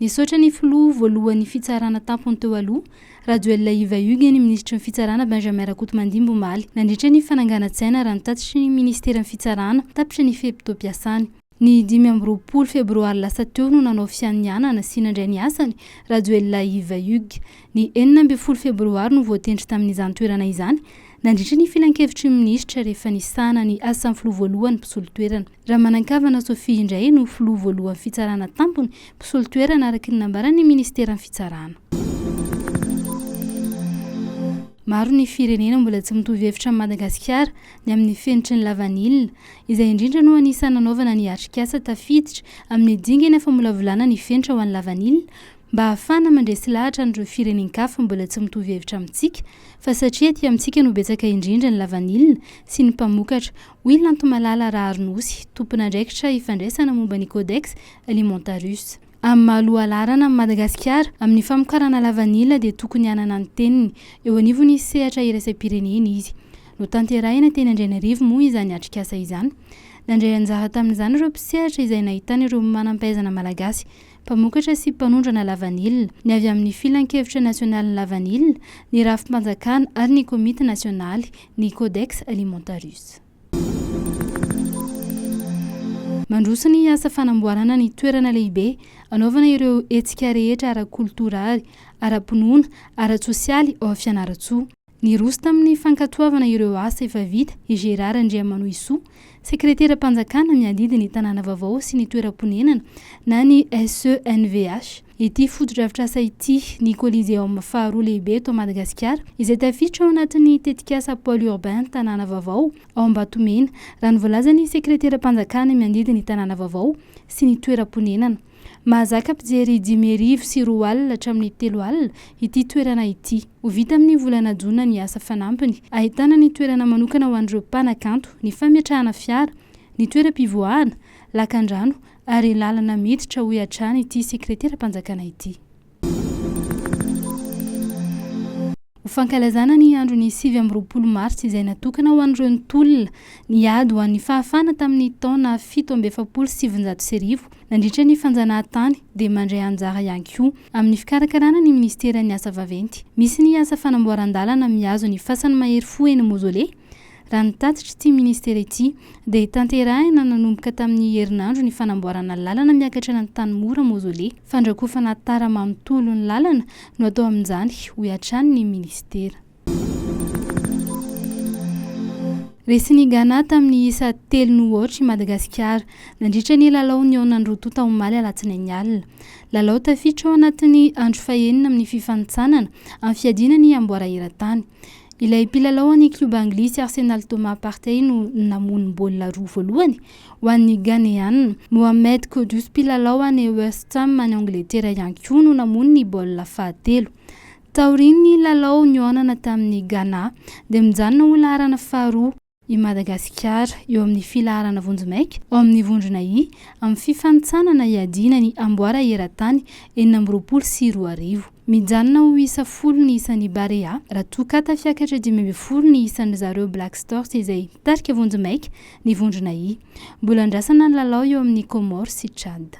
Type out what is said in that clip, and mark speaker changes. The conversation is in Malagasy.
Speaker 1: Nisaotra ny filoha voalohan'ny fitsarana tampony teo aloha, Rajoelina Iva Hugues ny minisitry ny fitsarana Benjamin Rakotomandimby omaly, nandritra ny fananganan-tsaina ary ny tatitry ny ministeran'ny fitsarana, tapitra ny fe-potoam-piasany. Ny dimy amby roapolo febroary lasa teo no nanao fianianana sy nandray ny asany, Rajoelina Iva Hugues. Ny enina ambin'ny folo febroary no voatendry tamin'izany toerana izany, nandritra ny filankevitry ny minisitra rehefa nisahana ny asan'ny filoha voalohany mpisolo toerana. Ramanankavana Sophie indray no filoha voalohan'ny fitsarana tampony, mpisolo toerana araka ny nambaran'ny minisiteran'ny fitsarana. Maro ny firenena mbola tsy mitovy hevitra amin'i Madagasikara ny amin'ny fenitry ny lavanila. Izay indrindra no anisan'ny nanaovana ny atrikasa tafiditra amin'ny dingana famolavolana ny fenitra ho an'ny lavanila mba hahafahana mandresy lahatra an'ireo firenen-kafa mbola tsy mitovy hevitra amintsika fa satria aty amintsika no betsaka indrindra ny lavanila sy ny mpamokatra Hoy Lanto Malala Raharin'osy, tompon'andraikitra ifandraisana momba ny Codex Alimentarius. Amin'ny maha lohalaharana an'i Madagasikara amin'ny famokarana lavanila dia tokony hanana ny teniny eo anivon'ny sehatra iraisam-pirenena izy. Notanterahina teny Andrainarivo moa izany atrikasa izany. Nandray anjara tamin'izany ireo mpisehatra izay nahitana ireo manam-pahaizana malagasy mpamokatra sy mpanondrana lavanila, ny avy amin'ny Filankevitra Nasionalin'ny Lavanila, ny Rafi-panjakana ary ny Komity Nasionaly, ny Codex Alimentarius. Mandroso ny asa fanamboarana ny toerana lehibe anaovana ireo hetsika rehetra ara-koltoraly, ara-pinoana, ara-tsosialy ao Fianarantsoa. Niroso tamin'ny fankatoavana ireo asa efa vita i Gérard Andriamanohisoa, sekreteram-panjakana miadidy ny tanàna vaovao sy ny toeram-ponenana na ny SENVH, ity fotodrafitrasa ity, ny Coliseum faharoa lehibe eto Madagasikara, izay tafiditra ao anatin'ny tetikasa Pôle urbain Tanàna vaovao ao Ambatomena, raha ny voalazan'ny sekreteram-panjakana miadidy ny tanàna vaovao sy ny toeram-ponenana. Mahazaka mpijery dimy arivo sy roa alina hatramin'ny telo alina ity toerana ity. Ho vita amin'ny volana jona ny asa fanampiny. Ahitana ny toerana manokana ho an'ireo mpanakanto, ny fametrahana fiara, ny toeram-pivoahana, lakandrano ary lalana miditra, hoy hatrany ity sekreteram-panjakana ity. Ho fankalazana ny andron'ny sivy amby roapolo martsa izay natokana ho an'ireo nitolona niady ho an'ny fahafahana tamin'ny taona fito amby efapolo sy sivinjato sy arivo nandritra ny fanjanahantany dia mandray anjara ihany koa amin'ny fikarakarana ny minisiteran'ny asa vaventy misy ny asa fanamboaran-dalana mihazo ny fasan'ny mahery fo eny Mozole Raha ny tatitr'ity ministera ity, dia tanterahina nanomboka tamin'ny herinandro ny fanamboarana lalana miakatra any Antanimora Mausolée. Fandrakofana tara manontolo ny lalana no atao amin'izany, hoy hatrany ny ministera. Resin'i Ghana tamin'ny isa telo no aotra i Madagasikara, nandritra ny lalao nihaona ny roa tonta omaly alatsinainy alina. Lalao tafiditra ao anatin'ny andro fahenina amin'ny fifanintsanana amin'ny fiadiana ny amboara eran-tany. Ilay mpilalao any klioba anglisy Arsenal Thomas Partey no namono ny baolina roa voalohany ho an'ny Ghaneana. Mohamed Kudus mpilalao any West Ham any Angletera ihany koa no namono ny baolina fahatelo. Taorian'ny lalao nihaonana tamin'ny Ghana dia mijanona ho laharana faharoa. i Madagasikara eo amin'ny filaharana vonjimaika ao amin'ny vondrona I amin'ny fifanintsanana hiadiana ny amboara eran-tany enina amby roapolo sy roa arivo. Mijanona ho isa folo ny isan'ny Barea raha toa ka tafiakatra dimy ambin'ny folo ny isan-dry zareo Black Stars izay mitarika vonjimaika ny vondrona I. Mbola andrasana ny lalao eo amin'ny Comores sy Tchad.